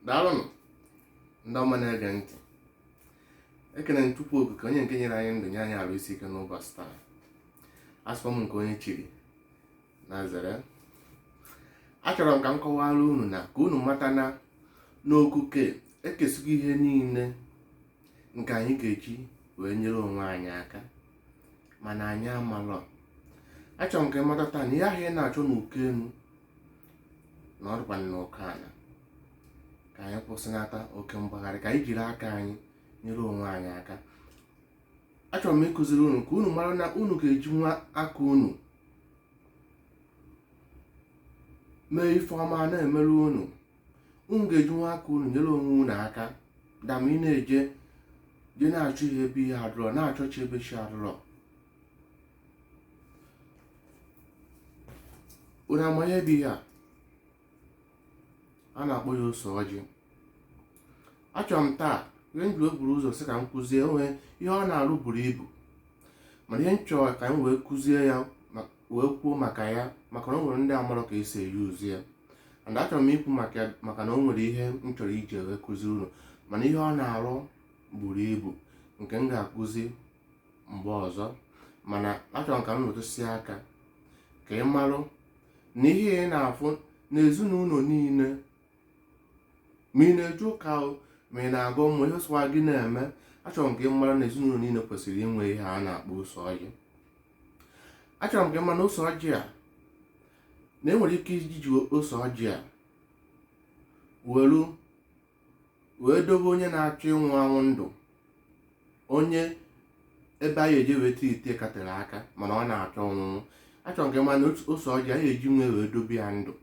daalụnụ ndị ọma na-ege ntị ekene m Chukwu Okike onye nke nyere anyị ndụ nye anyị arụ isi ike n'ụbọchị taa asịkwa m nke onye chiri nya zere achọrọ m ka m kọwara unu na ka unu mata na n'okike ekesigo ihe niile nke anyị ga-eji wee nyere onwe anyị aka mana anyị amalọ achọrọ m ka ị mata taa na ihe ahụ ị na-achọ n'uko enu na ọ dịkwa n'uko ana ka anyị kwụsịnata oke mgbagharị ka anyị jiri aka anyị nyere onwe anyị aka achọrọ m ịkụziri unu ka unu mara na unu ga-ejinwu aka unu mee ife ọma na-emere unu unu ga-ejinwu aka unu nyere onwe unu aka than ị na-eje na-achọ ihe ebe ihe adụrọ na-achọ chi ebe chi adụrọ unu ama ihe bụ ihe a a na-akpọ ya ose ọjị achọrọ m taa ihe m ji wee buru ụzọ sị ka m kụzie o nwe ihe ọ na-arụ buru ibu mana ihe m chọrọ ka m wee kụzie ya ma- wee kwuo maka ya maka na o nwere ndị amarọ ka esi e-use ya and achọrọ m ikwu maka na o nwere ihe m chọrọ iji wee kụzi unu mana ihe ọ na-arụ buru ibu nke m ga-akụzi mgbe ọzọ mana achọrọ m ka m metụsie aka ka ị marụ na ihe ị na-afụ n'ezinụlọ niile ma ị na-eje ụka o ma ị na-agọ mmụọ ihe sọwa gị na-eme achọrọ m ka ị mara na ezinụlọ niile kwesịrị inwe ihe a na-akpọ ose ọjị achọrọ m ka ị mara na ose ọjị a na enwere ike iji ose ọjị a welu wee dobe onye na-achọ ịnwụ anwụ ndụ onye ebe a ya-eje wee treatie ka tere aka mana ọ na-achọ ịnwụ anwụ achọ m ka ị ma na ose ọjị a ya-ejinwu ya wee dobe ya ndụ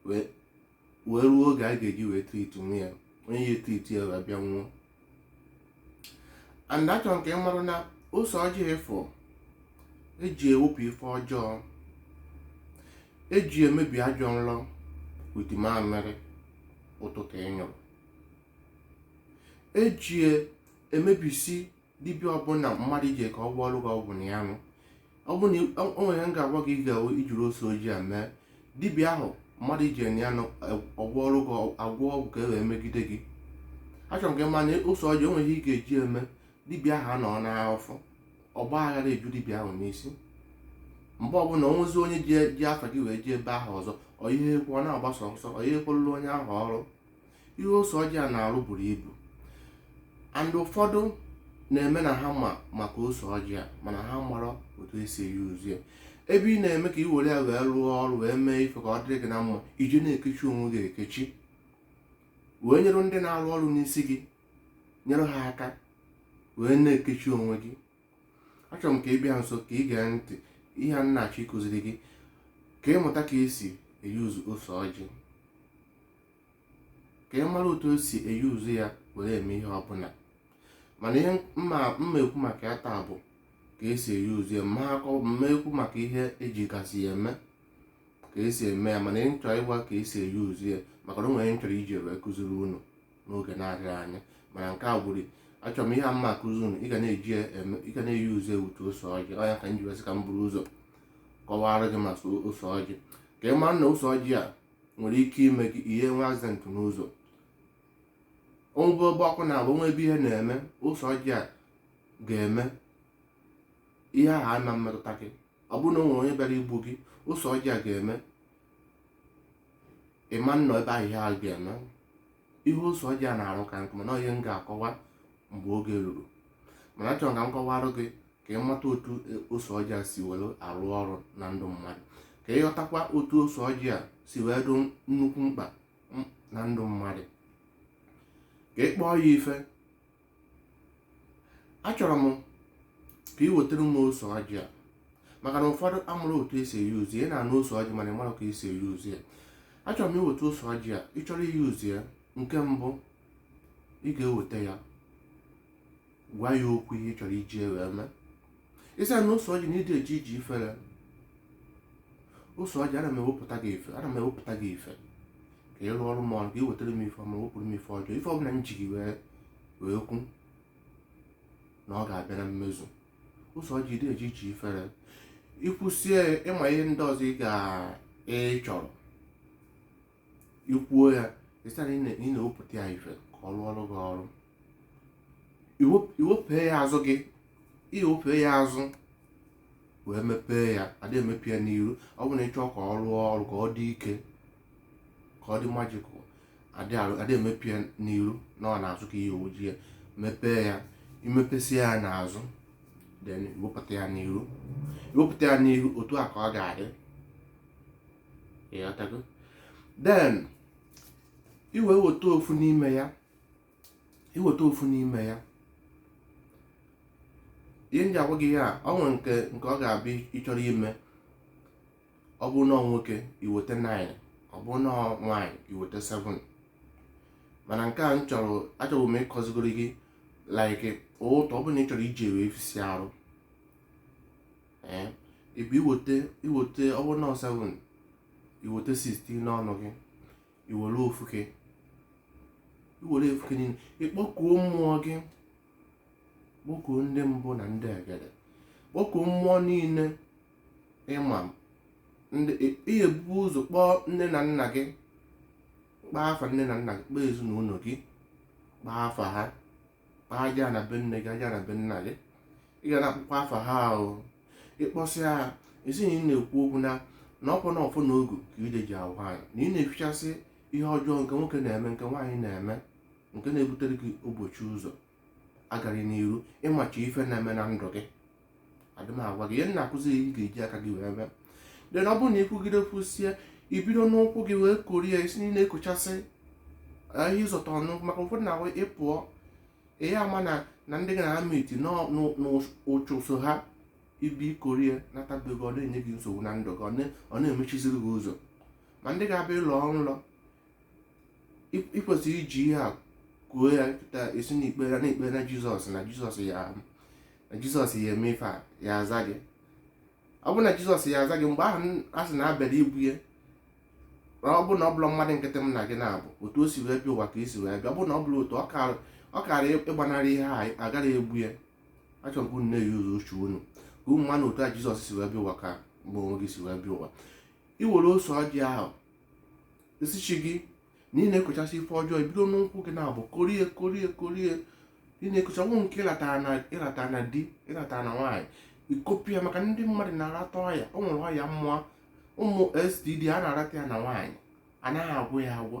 wee ruo oge a ga-eji wee treatinwu ya onye ya e-treat ya wee bịa nwụọ and achọrọ m ka ị mara na ose ọjị ị fụ eji ewepụ ife ọjọọ eji emebi ajọ nrọ with mamịrị ụtụtụ ị nyụrụ eji emebisi dibịa ọbụla mmadụ jee ka ọ gwọọrụ gị ọgwụ na ya nụ ọ bụ na o nwe ihe m ga-agwa gị ị ga-eme i jiri ose ọjị a mee dibịa ahụ mmadụ iji enye ya ọgwọ ọrụ gị agwọ ọgwụ ka e wee megide gị achọrọ m ka ị ma na ose ọjị o nwe ihe ị ga-eji eme dibịa ahụ anọ n'afa ọgbaaghara eju dibịa ahụ n'isi mgbe ọbụla o nwezi onye ji afa gị wee jee ebe ahụ ọzọ ọ ihe ekwu ọ na-agbasa ọsọ ọ ihe ekwelụla onye ahụ ọrụ ihe ose ọjị a na-arụ buru ibu and ụfọdụ na-eme na ha ma maka ose ọjị a mana ha mara otu esi e-use ya ebe ị na-eme ka i were ya wee rụọ ọrụ wee mee ife ka ọ dịrị gị na mma ị je na-ekechi onwe gị ekechi wee nyere ndị na-arụ ọrụ n'isi gị nyere ha aka wee na-ekechi onwe gị achọrọ m ka ị bịa nso ka ị gee ntị ihe a m na-achọ ịkụziri gị ka ị mụta ka esi e-use ose ọjị ka ị mara otu esi e-use ya were eme ihe ọbụla mana ihe m ma m ma ekwu maka ya taa bụ ka esi e-use ya m ma akọ m ma ekwu maka ihe eji gasị ya eme ka esi eme ya mana ihe m chọ ịgwa ka esi e-use ya maka na o nwere m chọrọ iji wee kụziri unu n'oge na-adịghị anya mana nke a bụrụ achọrọ m ihe a m ma akụzi unu ị ga na-eji ya eme ị ga na-e-use ya otu ose ọjị ọ ya ka m ji wee sị ka m buru ụzọ kọwara gị maka ose ọjị ka ị mara na ose ọjị a nwere ike ime gị ihe nwe accident n'ụzọ o nwee ebe ọkụ na-agba o nwee ebe ihe na-eme ose ọjị a ga-eme ihe ahụ ama emetụta gị ọ bụrụ na o nwere onye bịara igbu gị ose ọjị a ga-eme ị ma anọ ebe ahụ ihe ahụ ga-eme ihe ose ọjị a na-arụ ka nkụ mana ihe m ga-akọwa mgbe oge ruru mana achọrọ ka m kọwarụ gị ka ị mata otu ose ọjị a si were arụ ọrụ na ndụ mmadụ ka ị ghọtakwa otu ose ọjị a si wee dụ nnukwu mkpa na ndụ mmadụ ka ị kpọọ ya ife achọrọ m ka ị wetara m ose ọjị a maka na ụfọdụ amarọ otu esi e-use ya ị na-anụ ose ọjị mana ị mara ka esi e-use ya achọrọ m i weta ose ọjị a ị chọrọ i-use ya nke mbụ ị ga-eweta ya gwa ya okwu ihe ị chọrọ iji ya wee mee ị sị ya na ose ọjị na ị dị eje ije ifere ose ọjị ana m ewepụta gị ife ana m ewepụta gị ife ka ị rụọrụ m ọrụ ka ị wetara m ife ọma wepụrụ m ife ọjọọ ife ọbụla m ji gị wee wee kwu na ọ ga-abịa na mmezu ose ọjị ị dị eje ije ifere i kwusie ị ma ihe ndị ọzọ ị ga ị chọrọ i kwuo ya ị sị ya na ị na-ewepụta ya ife ka ọ rụọrụ gị ọrụ i wepee ya azụ gị i wepee ya azụ wee mepee ya adị emepe ya n'iru ọ bụrụ na ị chọọ ka ọ rụọ ọrụ ka ọ dị ike ka ọ dị magical adị emepe ya n'iru na ọ n'azụ ka ihe oji ya mepee ya i mepesịa ya n'azụ then i wepụta ya n'iru i wepụta ya n'iru otu a ka ọ ga-adị then iwe weta ofu n'ime ya iweta ofu n'ime ya ihe m ji agwa gị ya ọ nwere nke nke ọ ga-abụ ị chọrọ ime ọ bụrụ na nwoke iweta 9 ọ bụrụ na nwaanyị iweta 7 mana nke a m chọrọ achọbụ m ịkọzigoro gị like otu ọ bụrụ na ị chọrọ iji wee fisịa arụ eh, ịbụ iweta iweta ọ bụ na 7 iweta 16 n'ọnụ gị iwere ofuke iwere ofuke niile ịkpọkuo mmụọ gị kpọkuo ndị mbụ na ndị egede kpọkuo mmụọ niile ị ma ị ya-ebu ụzọ kpọọ nne na nna gị kpọọ afa nne na nna gị kpọọ ezinụlọ gị kpọọ afa ha aja ana be nne gị aja ana be nna gị ị ga na-akpọkwa afa ha ahụ ịkpọsịa ha ị sị na ị na-ekwu okwu na na ọkwa na ọfọ na ogu ka ị dị eji ahụ anyị na ị na-efichasị ihe ọjọọ nke nwoke na-eme nke nwaanyị na-eme nke na-ebutere gị mgbochi ụzọ agaghị n'iru ịmachi ife na-eme na ndụ gị adị m agwa gị ihe m na-akụzi ị ga-eji aka gị wee mee then ọ bụrụ na i kwugide kwusie ibido n'ụkwụ gị wee korie isi niile ikochasị ihe ị zọta n'ụkwụ maka ụfọdụ na ị pụọ ihe ama na na ndị gị na-ama iti n'ụchụ so ha ibi ikori ya nata be gị ọ na-enye gị nsogbu na ndụ gị ọ na-emechiziri gị ụzọ ma ndị ga-abịa ịlọ nlọ ị kwesịrị iji ihe a kwuo ya kịta ị sị na ikpere na ikpere na jizọs na jizọs ya na jizọs ya eme ife a ya aza gị ọ bụrụ na jizọs ya aza gị mgbe ahụ a sị na a bịara igbu ya ọ bụrụ na ọ bụrọ mmadụ nkịtị mụ na gị na-abụ otu o si wee bịa ụwa ka i si wee bịa ọ bụrụ na ọ bụrọ otu ọ kaara ọ kaara ịgbanarị ha agaghị egbu ya achọrọ m ka unu na-eyuzu uche unu ka unu malụ otu a jizọs si wee bịa ụwa ka gị onwe gị si wee bịa ụwa iwere ose ọjị ahụ ị sị chi gị na ị na-ekochasị ife ọjọọ ibido n'ụkwụ gị na-abụ korie korie korie ị na-ekocha ọnwụ nke ịlata na di ịlata na nwaanyị ikopụ ya maka ndị mmadụ na-arata ọya o nwere ọya mmụọ ụmụ std a na-arata ya na nwaanyị anaghị agwọ ya agwọ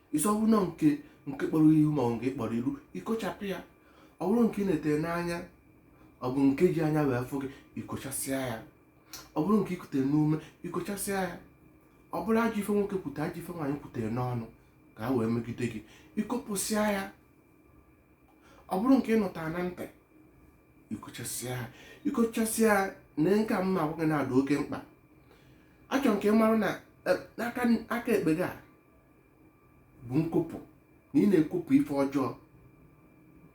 ị sị ọ bụrụ na nke nke kpọrọ ihu ma ọ bụ nke kpọrọ ilu ikochapụ ya ọ bụrụ nke ị netere n'anya ọ bụ nke e ji anya wee fụ gị ikochasịa ya ọ bụrụ nke ikutere n'ume ikochasịa ya ọ bụrụ ajọ ife nwoke kwutere ajọ ife nwaanyị kwutere n'ọnụ ka ha wee megide gị ikopụsịa ya ọ bụrụ nke ị nụtara na ntị ikochasịa ya ikochasịa ya na nke a m na-agwa gị na-adị oke mkpa achọrọ m ka ị mara na eh, n'aka aka ekpe gị a bụ nkopụ na ị na-ekopụ ife ọjọọ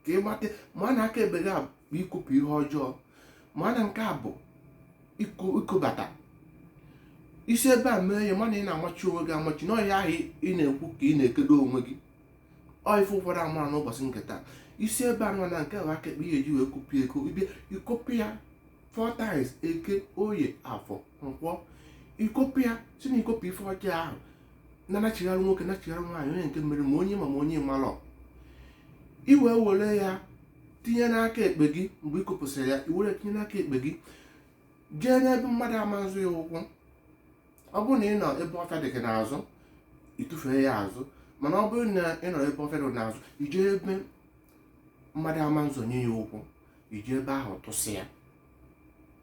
ka ị mata ma na aka ekpe gị bụ ikopụ ihe ọjọọ ma na nke a bụ ikobata i si ebe a mee ya ma na ị na-amachi onwe gị amachi na ọ ihe ahụ ị na-ekwu ka ị na-ekedo onwe gị ọ ife ụfọdụ amara n'ụbọsị nke taa i si ebe a nọ na nke bụ aka ekpe ihe eji wee kopụ ya ekopụ i kopụ ya four times eke oye afọ nkwọ i kopụ ya sị na i kopụ ife ọjọọ ahụ na nachigharị nwoke nachigharị nwaanyị onye nke mere ma onye ma ma onye malọ i wee were ya tinye n'aka ekpe gị mgbe ị kopụsịrị ya i were tinye n'aka ekpe gị jee n'ebe mmadụ ama nzọ ya ụkwụ ọ bụrụ na ị nọ ebe ọfịa dị gị n'azụ ị tụfee ya azụ mana ọ bụrụ na ị nọ ebe ọfịa adịghị n'azụ i jee ebe mmadụ ama nzọnye ya ụkwụ i jee ebe ahụ tụsị ya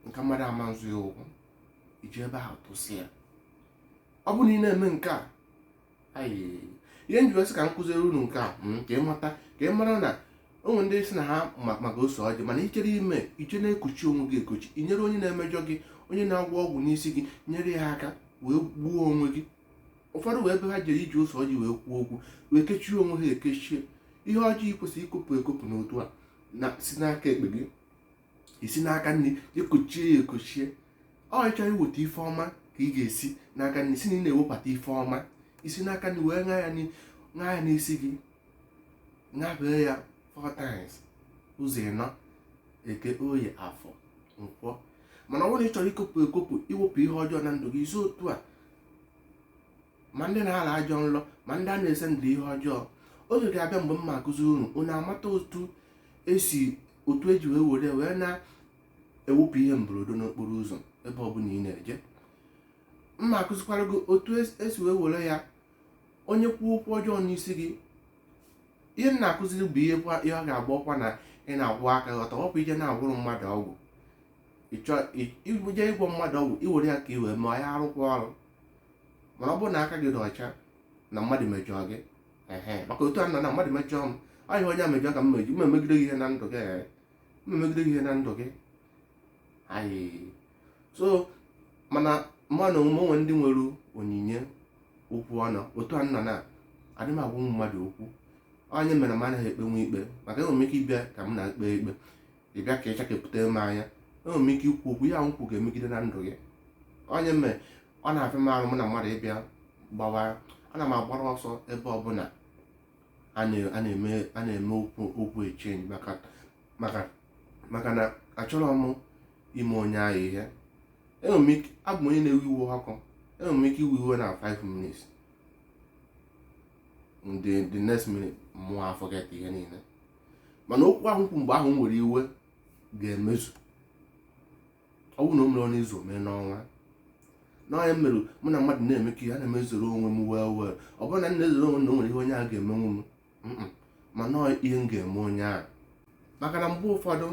nke mmadụ ama nzọ ya ụkwụ i jee ebe ahụ tụsị ya ọ bụrụ na ị na-eme nke a ayi ihe m ji wee sị ka m kụziere unu nke a mm, ka ị mata ka ị mara na o nwee ndị sị na ha ma maka ose ọjị mana i jere ime i jee na-ekochi onwe gị ekochi i nyere onye na-emejọ gị onye na-agwọ ọgwụ n'isi gị nyere ya aka wee gbuo onwe gị ụfọdụ nwee ebe ha jere iji ose ọjị wee kwuo okwu wee kechie onwe ha ekechie ihe ọjọọ ị kwesịrị ikopụ ekopụ n'otu a na-esi n'aka ekpe gị i si n'aka nni ekochie ya ekochie ọ ị chọrọ iweta ife ọma ka ị ga-esi n'aka nni sị na ị na-ewebata ife ọma i si n'aka nni wee ṅaa ya ṅaa ya n'isi gị ṅabee ya four times ụzọ ịnọ eke oye afọ nkwọ mana ọ bụrụ na ị chọrọ ikopụ ekopụ iwepụ ihe ọjọọ na ndụ gị i si otu a ma ndị na-ala ajọ nlọ ma ndị a na-ese ndụ ihe ọjọọ oge ga-abịa mgbe m ma akụziri unu unu amata otu esi otu eji wee were wee na-ewepụ ihe mberede n'okporo ụzọ ebe ọbụla ị na-eje m ma akụzikwara gị otu esi e wee were ya onye kwuo okwu ọjọọ n'isi gị ihe m na-akụziri bụ ihe ihe ọ ga-agba ọkwa na ị na-akwụ aka ọtọ ọ bụ i jee na-agwọrọ mmadụ ọgwụ i jee ịgwọ mmadụ ọgwụ i were ya ka i wee ma ya arụkwa ọrụ mana ọ bụrụ na aka gị dị ọcha na mmadụ mejọọ gị ehe maka otu a na na mmadụ mejọọ m ọ ihe onye a mejọọ ka m meji m emegide gị ihe na ndụ gị ee m emegide gị ihe na ndụ gị ayị so mana ma na omume o nwee ndị nwere onyinye okwu ọnụ otu a m nọ na adị m agwa ụmụ mmadụ okwu ọ ya mere m anaghị ekpenwe ikpe maka enwere m ike ịbịa ka m na-ekpe ikpe ị bịa ka ịchakepụta m anya enwere m ike ikwu okwu ihe m kwu ga-emegide na ndụ gị ọ ya mere ọ na-afịa m arụ mụ na mmadụ ịbịa gbawa ana m agbara ọsọ ebe ọbụla a na-eme okwu exchange maka na achọrọ m ime onye ahụ ihe abụ m onye na-ewe iwe ọkụ enwere m ike iwe iwe na 5 minutes the next minute mụ aforget ihe niile mana okwu ahụ m kwu mgbe ahụ m were iwe ga-emezu ọ bụrụ na o merọ n'izu o mee n'ọnwa na ọ ya mere mụ na mmadụ na-emekọ ihe ana m ezoro onwe m wee wee ọ bụrọ na m na-ezoro onwe m na o nwere ihe onye ahụ ga-emenwu m mm-mm, mana ọ ihe m ga-eme onye ahụ maka na mgbe ụfọdụ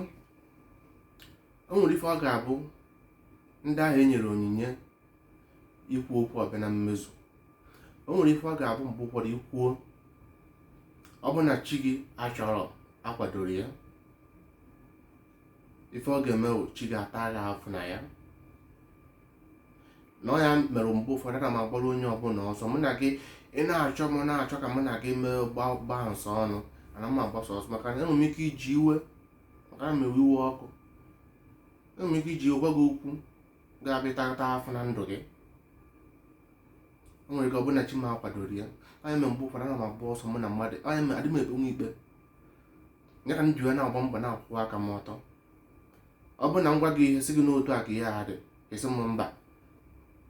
o nwere ife ọ ga-abụ ndị ahụ e nyere onyinye ikwu okwu ọ bịa na mmezu o nwere ife ọ ga-abụ mgbe ụfọdụ i kwuo ọ bụ na chi gị achọrọ akwadoro ya ife ọ ga-eme bụ chi gị ata gị afụ na ya na ọ ya mere mgbe ụfọdụ ana m agbara onye ọbụla ọsọ mụ na gị ị na-achọ m na-achọ ka mụ na gị mee gbaa nsọ ọnụ ana m agbasa ọsọ maka na enwere m ike iji iwe maka na m ewe iwe ọkụ enwere m ike iji iwe gwa gị okwu ga-abịa tata afụ na ndụ gị o nwere ike ọ bụ na chi m akwadoro ya ọ ya mere mgbe ụfọdụ ana m agba ọsọ mụ na mmadụ ọ ya mere adị m ekpenwu ikpe ya ka m ji wee na-agba mbọ na-akwụ aka m ọtọ ọ bụrụ na m gwa gị ihe sị gị na otu a ka ihe a dị ị sị m mba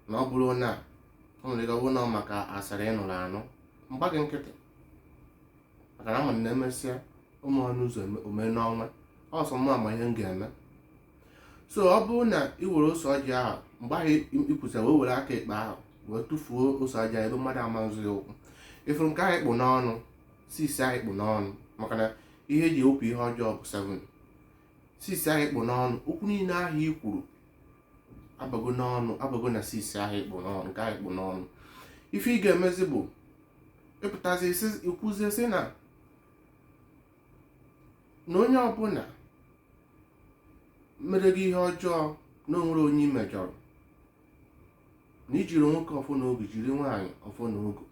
na ọ bụrụ na o nwere ike ọ bụrụ na ọ maka asịrị ị nụrụ anụ m gba gị nkịtị maka na ama m na e mesịa o merọ n'izu o mee n'ọnwa ọ sọ mụ ma ihe m ga-eme so ọ bụrụ na ị were ose ọjị ahụ mgbe ahụ i kwusịa wee were aka ekpe ahụ wee tụfuo ose ọjị ebe mmadụ ama azọ ya ụkwụ ị fụrụ nke ahụ ị kpụ n'ọnụ 6 ahụ ị kpụ n'ọnụ maka na ihe e ji ewepụ ihe ọjọọ bụ 7 6 ahụ ị kpụ n'ọnụ okwu niile ahụ i kwuru abago n'ọnụ abago na 6 ahụ ị kpụ n'ọnụ nke ahụ ị kpụ n'ọnụ ife ị ga-emezi bụ ị pụtazi i kwuzie sị na na onye ọbụla mere gị ihe ọjọọ na o nwere onye ị mejọrọ na i jiri nwoke ọfọ na ogu jiri nwaanyị ọfọ na ogu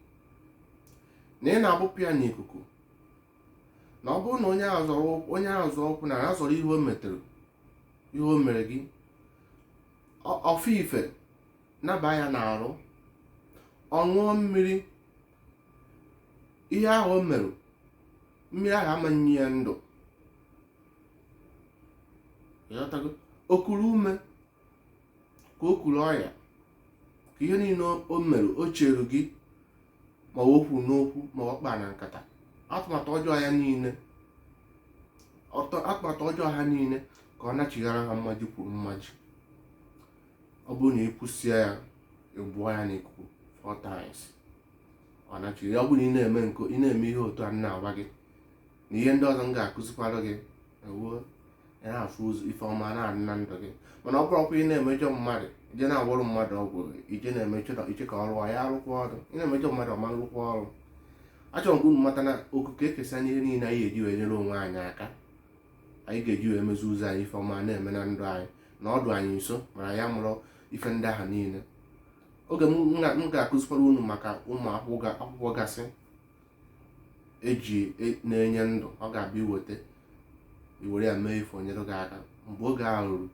na ị na-agbụpụ ya n'ikuku na ọ bụrụ na onye ahụ zọọ ụkwụ na ya zọrọ ihe o metere ihe o mere gị ọ fụ ife naba ya n'arụ ọ ṅụọ mmiri ihe ahụ o mere mmiri ahụ ama nye ya ndụ ị ghọtago o kuru ume ka o kuru ọya ka ihe niile o mere o chere gị ma o kwuru n'okwu ma ọ kpa na nkata atụmatụ ọjọọ ya niile atụmatụ ọjọọ ha niile ka ọ nachighara ha mmaji kwuru mmaji ọ bụrụ na i kwusịa ya ị bụọ ya n'ikuku four times ọ nachiri ọ bụrụ na ị na-eme nke ị na-eme ihe otu a na-agwa gị na ihe ndị ọzọ m ga-akụzikwara gị ewuo ị na-afụ ụzọ ife ọma na-adị na ndụ gị mana ọ bụrụkwa ị na-emejọ mmadụ ije na-agwọrọ mmadụ ọgwụ ije na-emejọ na i che ka ọ rụọ ya arụkwa ọrụ ị na-emejọ mmadụ ọ ma-arụkwa ọrụ achọrọ m ka unu mata na okike ekesa ihe niile anyị ga-eji wee nyere onwe anyị aka anyị ga-eji wee mezi ụzọ anyị ife ọma na-eme na ndụ anyị na ọ dụ anyị nso mana anyị amarọ ife ndị ahụ niile oge m ga- m ga-akụzikwara unu maka ụmụ akwụkwọ ga- akwụkwọ gasị eji e, na-enye ndụ ọ ga-abịa i weta i were ya mee ife o nyere gị aka mgbe oge ahụ ruru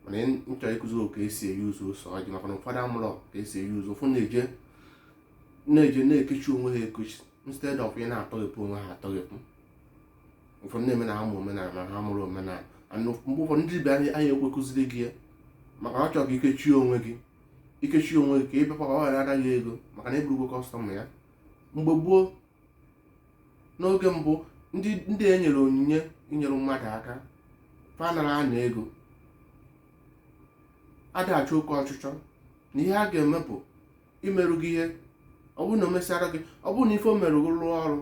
mana m chọrọ ịkụzi ka esi e-use ose ọjị maka na ụfọdụ amarọ ka esi e-use ụfọdụ na-eje na-eje na-ekechi onwe ha ekechi instead of ị na-atọghepụ onwe ha atọghepụ ụfọdụ na-eme na ha ma omenala ma ha amarọ omenala and mgbe ụfọdụ ndị dibịa anaghị ekwe kụziri gị ya maka na ọ chọrọ ka i kechie onwe gị i kechie onwe gị ka ị bịakwa ọ gara ana gị ego maka na ị bụrụgwo customer ya mgbe gboo n'oge mbụ ndị ndị e nyere onyinye inyere mmadụ aka fa anarọ ana ego ada achụ oke ọchịchọ na ihe a ga-eme bụ imerụ gị ihe ọ bụrụ na o mesara gị ọ bụrụ na ife o merụ gị rụọ ọrụ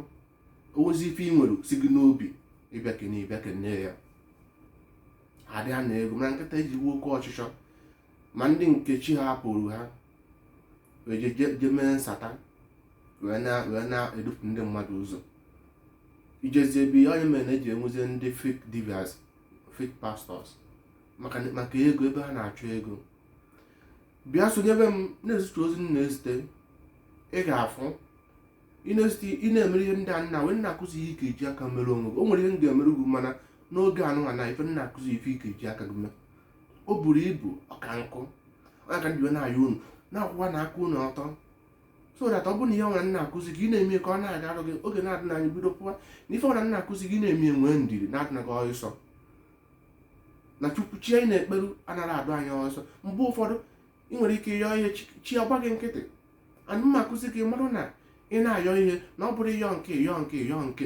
i wezi ife ị nwere si gị n'obi ị bịa kene ị bịa kene ya adị ana ego mana kịta e jiwe oke ọchịchọ ma ndị nke chi hapụrụ ha wee je- je- je mee satan wee na- wee na-edupụ ndị mmadụ ụzọ i jezi ebe ihe ọ nya mere na eji enwezie ndị fake dibias fake pastors maka maka ego ebe ha na-achọ ego bịa sonyebe m na-ezute ozi m na-ezite ị ga-afụ ị na-ezute ị na-emere ihe ndị a nna wee na-akụzi ihe ị ga-eji aka mere onwe gị o nwere ihe m ga-emere gị mana n'oge anụnwa na ife m na-akụzi ife ị ga-eji aka gị mee o buru ibu ọka nkụ ọ nya ka m ji na-ayọ unu na-akwụwa na aka unu ọtọ so that ọ bụrụ na ihe ọbụla m na-akụzi gị na-eme ka ọ na-agarụ gị oge na-adịna anya i bido kwụwa na ife ọbụla m na-akụzi gị na-eme nwee ndidi na adịna gị ọsọ na chukwu chi anyị na-ekperu anaghị adụ anyị ọsọ mgbe ụfọdụ ị nwere ike yọọ ihe chi ọ gba gị nkịtị and m na-akụzi gị marụ na ị na-ayọ ihe na ọ bụrụ ịyọ nke ịyọ nke ịyọ nke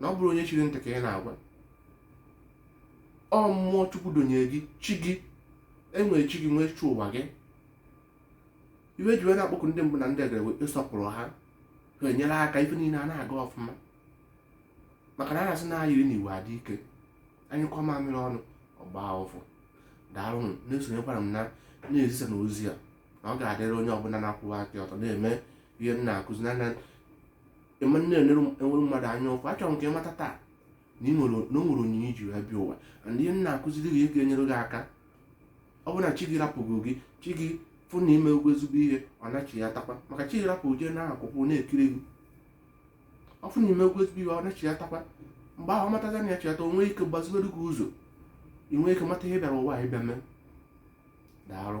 na ọ bụrụ onye chiri ntị ka ị na-agwa ọ mmụọ chukwu donyere gị chi gị enwere chi gị nwee chi ụwa gị i wee ji wee na-akpọku ndị mbụ na ndị egede ị sọpụrụ ha ha enyere aka ife niile a na-aga ọfụma maka na a na-asị na ayiri na igwe adị ike anyụkọọ mamịrị ọnụ ọ gbaa ụfụfụ daalụnụ na-esonyekwara m na na-ezisa na ozi a na ọ ga-adịrị onye ọbụla na-akwụwa aka ọtọ na-eme ihe m na-akụzi na ị ma na-enwere mmadụ anya ụfụ achọrọ m ka ị mata taa na ị nwere na o nwere onyinye i ji wee bịa ụwa and ihe m na-akụziri gị ihe ga-enyere gị aka ọ bụrụ na chi gị rapụgo gị chi gị fụ na i mego ezigbo ihe ọ nachiyatakwa maka chi gị rapụ jee na akụkụ na-ekiri gị ọ fụ na i mego ezigbo ihe ọ nachiyatakwa mgbe ahụ ọ mataza na ya chiata o nwee ike gbaziwere gị ụzọ ị nwee ike mata ihe ị bịara ụwa ịbịa mee daalụ